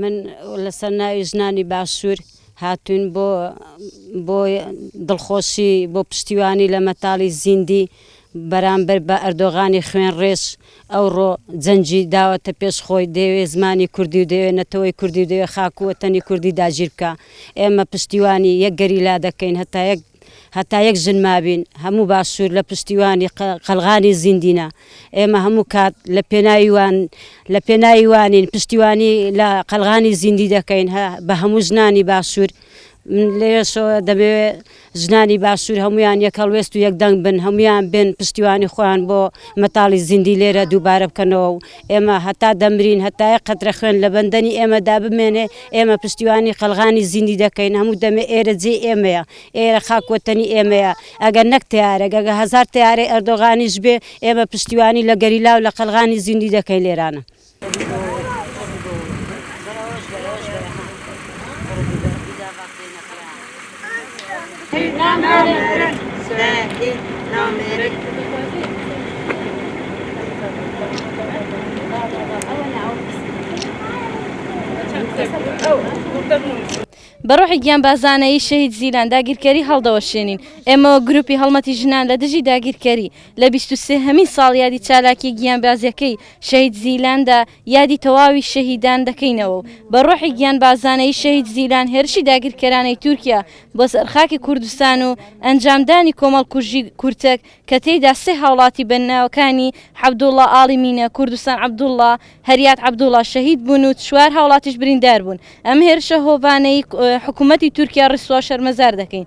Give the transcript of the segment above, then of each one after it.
من لەسەر ناوی ژنانی باشوور هاتوین بۆ بۆ دڵخۆشی بۆ پشتیوانی لە مەتاڵی زیندی بەرامبەر بە ئەردۆغانی خوێن ڕێش ئەوڕۆ جەنجی داوەتە پێش خۆی دەوێ زمانی کوردی و دەوێ نەتەوەی کوردی دەوێ خاکووەتەنی کوردی داگیر بکە ئێمە پشتیوانی یەک گەریلا دەکەین هەتا یەک هەتا یەک ژن مابین هەموو باشوور لە پشتیوانی قەلغانی زیندینە ئێمە هەموو کات لە پێناویوان لە پێناویوانین پشتیوانی لە قەلغانی زیندی دەکەین بە هەموو ژنانی باشوور لێشەوە دەبێ ژنانی باشوور هەمویان یەک هەڵوێست و یەک دەنگ بن هەمویان بن پشتیوانی خۆیان بۆ مەتاڵی زیندی لێرە دووبارە بکەنەوە و ئێمە هەتا دەمرین هەتا یەک قەترە خوێن لە بەندەنی ئێمەدا بمێنێ ئێمە پشتیوانی قەلغانی زیندی دەکەین هەموو دەمێ ئێرە جێی ئێمەیە ئێرە خاک وەتەنی ئێمەیە ئەگەر نەک تەیارەک ئەگەر هەزار تەیارەی ئەردۆغانیش بێ ئێمە پشتیوانی لە گەریلا و لە قەلغانی زیندی دەکەین لێرانە. بە ڕۆحی گیانبازانەیی شەهید زیلان داگیرکەری هەڵدەوەشێنین. ئێمە وەک گرووپی هەڵمەتی ژنان لە دژی داگیرکەری، لە بیست و سێ هەمین ساڵیادی چالاکییە گیانبازییەکەی شەهید زیلاندا، یادی تەواوی شەهیدان دەکەینەوە و بە ڕۆحی گیانبازانەی شەهید زیلان هێرشی داگیرکەرانەی تورکیا بۆ سەر خاکی کوردستان و ئەنجامدانی کۆمەڵکوژی کورتەک کە تێیدا سێ هاوڵاتی بە ناوەکانی حەبدوڵا ئاڵی مینە، کوردستان عەبدوڵا، هەریات عەبدوڵا شەهید بوون و چوار هاوڵاتیش بریندار بوون. ئەم هێرشە هۆڤانەی حکوومەتی تورکیا ڕیسوا و شەرمەزار دەکەین.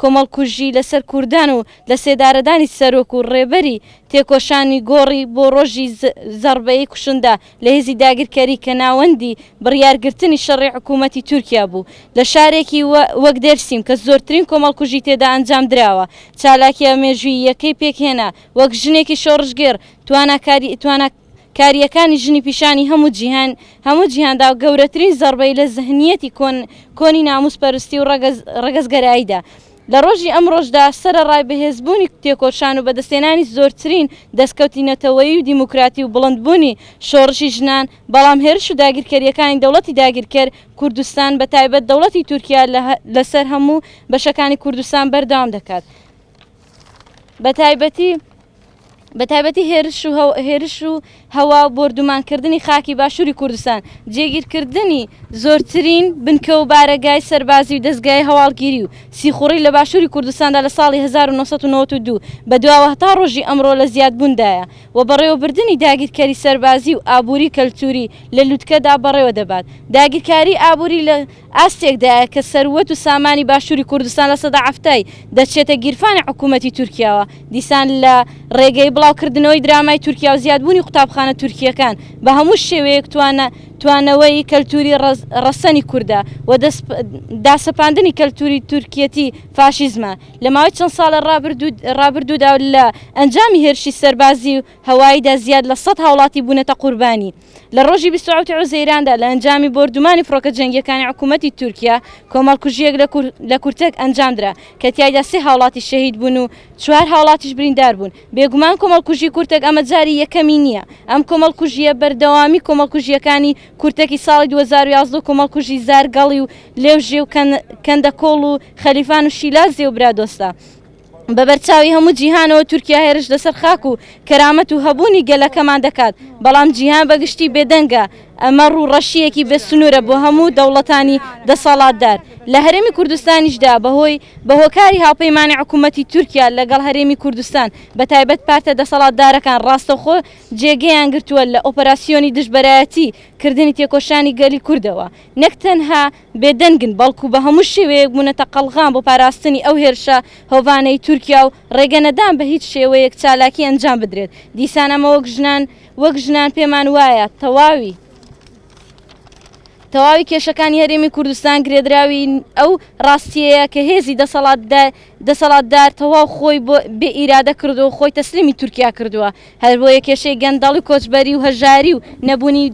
کۆمەڵکوژی لەسەر کوردان و لەسێدارەدانی سەرۆک و ڕێبەری تێکۆشانی گۆڕی بۆ ڕۆژی زەڕبەی کوشندە لە هێزی داگیرکەری کە ناوەندی بڕیارگرتنی شەڕی حکوومەتی تورکیا بوو لە شارێکی وەک دێرسیم کە زۆرترین کۆمەڵکوژی تێدا ئەنجامدراوە چالاکییە مێژووییەکەی پێکهێنا وەک ژنێکی شۆڕشگێڕ تواناکاری کارییەکانی ژنی پیشانی هەموو جیهان هەموو جیهان دا و گەورەترین زەڕبەی لە زهنییەتی کۆن کۆنی نامووس پەرستی و ڕەگەز ڕەگەز گەرایی دا. لە ڕۆژی ئەمڕۆش دا سەرەڕای بەهێز بوونی تێکۆشان و بەدەستهێنانی زۆرترین دەسکەوتی نەتەوەیی و دیموکراتی و بڵند بوونی شۆڕشی ژنان بەڵام هێرش و داگیرکەرییەکانی دەوڵەتی داگیرکەر کوردستان بە تایبەت دەوڵەتی تورکیا لە لە سەر هەموو بەشەکانی کوردستان بەردەوام دەکات. بە تایبەتی بە تایبەتی هێرش و هێرش و هەوا و بۆردومانکردنی خاکی باشووری کوردستان جێگیرکردنی زۆرترین بنکە و بارەگای سەربازی و دەستگای هەواڵگیری و سیخوڕی لە باشووری کوردستاندا لە ساڵی 1992 بەدواوە هەتا ڕۆژی ئەمڕۆ لە زیادبووندایە و بەڕێوەبردنی داگیرکەری سەربازی و ئابووری کەلتووری لە لوتکەدا بەڕێوە دەبات داگیرکاری ئابووری لە ئاستێکدایە کە سەروەت و سامانی باشووری کوردستان لە سەدا حەفتای دەچێتە گیرفانی حکوومەتی تورکیاوە. دیسان لە ڕێگەی بڵاو کردنەوەی درامای تورکیا و زیادبوونی قوتابخانە تورکییەکان بە هەموو شێوەیەک توانە توانەوەی کەلتووری ڕەز ڕەسەنی کوردە و دەس داسەپاندنی کەلتووری تورکییەتی فاشیزمە. لە ماوەی چەند ساڵە ڕابردوو ڕابردوودا و لە ئەنجامی هێرشی سەربازی و هەواییدا زیاد لە سەد هاوڵاتی بوونەتە قوربانی. لە ڕۆژی بیست و حەوت حوزەیراندا لە ئەنجامی بۆردومانی فڕۆکە جەنگییەکانی حکوومەتی تورکیا کۆمەڵکوژییەک لە کورتەک ئەنجامدرا کە تیایدا سێ هاوڵاتی شەهید بوون و چوار هاوڵاتیش بریندار بوون. بێگومان کۆمەڵکوژی کورتەک ئەمە جاری یەکەمی نییە. ئەم کۆمەڵکوژییە بەردەوامی کۆمەڵکوژییەکانی کورتەکی ساڵی دوو هەزار و یازدە و کۆمەڵکوژی زارگەڵی و لێوژێ و کەندەکۆڵ و خەلیفان و شیلازێ و برادۆستە. بە بەرچاوی هەموو جیهانەوە تورکیا هێرش لەسەر خاک و کەرامەت و هەبوونی گەلەکەمان دەکات، بەڵام جیهان بە گشتی بێدەنگە، ئەمە ڕووڕەشییەکی بێ سنوورە بۆ هەموو دەوڵەتانی دەسەڵاتدار. لە هەرێمی کوردستانیشدا بە هۆی بە هۆکاری هاوپەیمانی حکوومەتی تورکیا لەگەڵ هەرێمی کوردستان، بە تایبەت پارتە دەسەڵاتدارەکان ڕاستەوخۆ جێگەیان گرتووە لە ئۆپەراسیۆنی دژبەرایەتی کردنی تێکۆشانی گەلی کوردەوە، نەک تەنها بێدەنگن، بەڵکو بە هەموو شێوەیەک بوونەتە قەڵغان بۆ پاراستنی ئەو هێرشە هۆڤانەی تورکیا و ڕێگەنەدان بە هیچ شێوەیەک چالاکی ئەنجام بدرێت، دیسان ئەمە وەک ژنان وەک ژنان پێمان وایە تەواوی تەواوی کێشەکانی هەرێمی کوردستان گرێدراوی ئەو ڕاستیەیە کە هێزی دەسەڵاتدار دەسەڵاتدار تەواو خۆی بۆ بێ ئیرادە کردووە و خۆی تەسلیمی تورکیا کردووە هەربۆیە کێشەی گەندەڵی و کۆچبەری و هەژاری و نەبوونی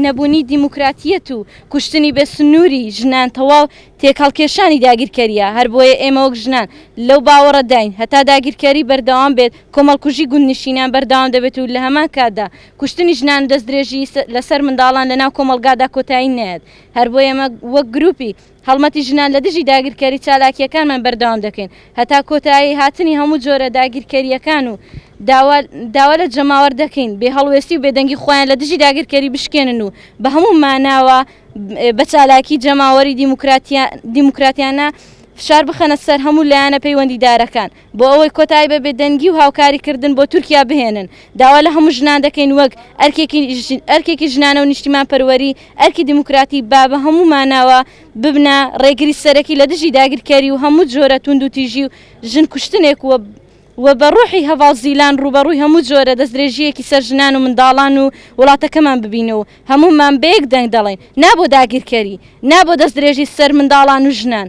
نەبوونی دیموکراتیەت و کوشتنی بێ سنووری ژنان تەواو تێکهەڵکێشانی داگیرکەریە، هەربۆیە ئێمە وەک ژنان لەو باوەڕەداین هەتا داگیرکەری بەردەوام بێت کۆمەڵکوژی گوندنشینان بەردەوام دەبێت و لەهەمان کاتدا کوشتنی ژنان و دەستدرێژی لەسەر منداڵان لەناو کۆمەڵگادا کۆتایی نایەت، هەربۆیە ئێمە وەک گروپی. هەڵمەتی ژنان لە دژی داگیرکەری چالاکییەکانمان بەردەوام دەکەین هەتا کۆتایی هاتنی هەموو جۆرە داگیرکەرییەکان و داوا داوا لە جەماوەر دەکەین بێ هەڵوێستی و بێدەنگی خۆیان لە دژی داگیرکەری بشکێنن و بە هەموو ماناوە بە چالاکی جەماوەری دیموکراتیا دیموکراتیانە فشار بخەنە سەر هەموو لایەنە پەیوەندیدارەکان. بۆ ئەوەی کۆتایی بە بێدەنگی و هاوکاریکردن بۆ تورکیا بهێنن، داوا لە هەموو ژنان دەکەین وەک ئەرکێکی ژنانە و نیشتیمانپەروەری، ئەرکی دیموکراتی، با بە هەموو ماناوە ببنە ڕێگری سەرەکی لە دژی داگیرکەری و هەموو جۆرە توندوتیژی و ژن کوشتنێک و بە ڕۆحی هەڤاڵ زیلان ڕووبەڕووی هەموو جۆرە دەستدرێژییەکی سەر ژنان و منداڵان و وڵاتەکەمان ببین و هەموومان بە یەک دەنگ دەڵێین نا بۆ داگیرکەری، نا بۆ دەستدرێژی سەر منداڵان و ژنان.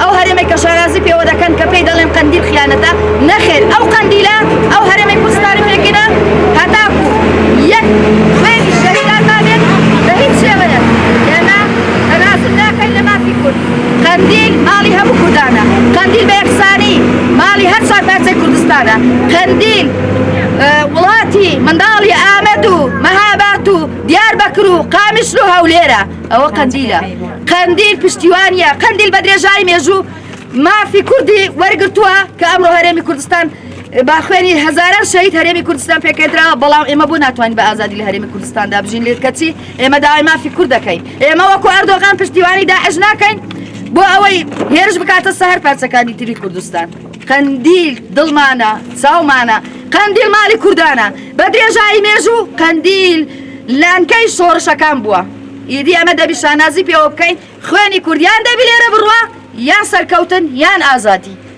ئەو هەرێمەی کە شانازی پێوە دەکەن کە پێی دەڵێن قەندیل خیانەتە نەخێر ئەو قەندیلە ئەو هەرێمەی کوردستانی پێکینە هەتاکو یەک خوێنی شەهیدان نابێت بە هیچ شێوەیە ئێمە تەنازل ناکەین لە مافی کورد قەندیل ماڵی هەموو کوردانە قەندیل بە یەکسانی ماڵی هەر چوار پارچەی کوردستانە قەندیل وڵاتی منداڵی ئامەد و مەهاباد و دیاربەکر و قامیشلو هەولێرە ئەوە قەندیلە قەندیل پشتیوانیە قەندیل بە درێژایی مێژوو مافی کوردی وەرگتووە کە ئەمڕۆ هەرێمی کوردستان باخوێنی هزاران شەهید هەرێمی کوردستان پێکەدراوە بەڵام ئێمە بۆ ناتوانین بە ئازادی لە هەرێمی کوردستاندا بژین لێت کەچی ئێمە داوای مافی کورد دەکەین ئێمە وەکو ئەردۆغان پشتیوانی داعش ناکەین بۆ ئەوەی هێرش بکاتە سەهر پارچەکانی تری کوردستان قەندیل دڵمانە چاومانە قەندیل مالی کوردانە بە درێژایی مێژوو قەندیل لانکەی شۆڕشەکان بووە. ئیدی ئەمە دەبی شانازی پێوە بکەین خوێنی کورد یان دەبی لێرە بڕوا یان سەرکەوتن یان ئازادی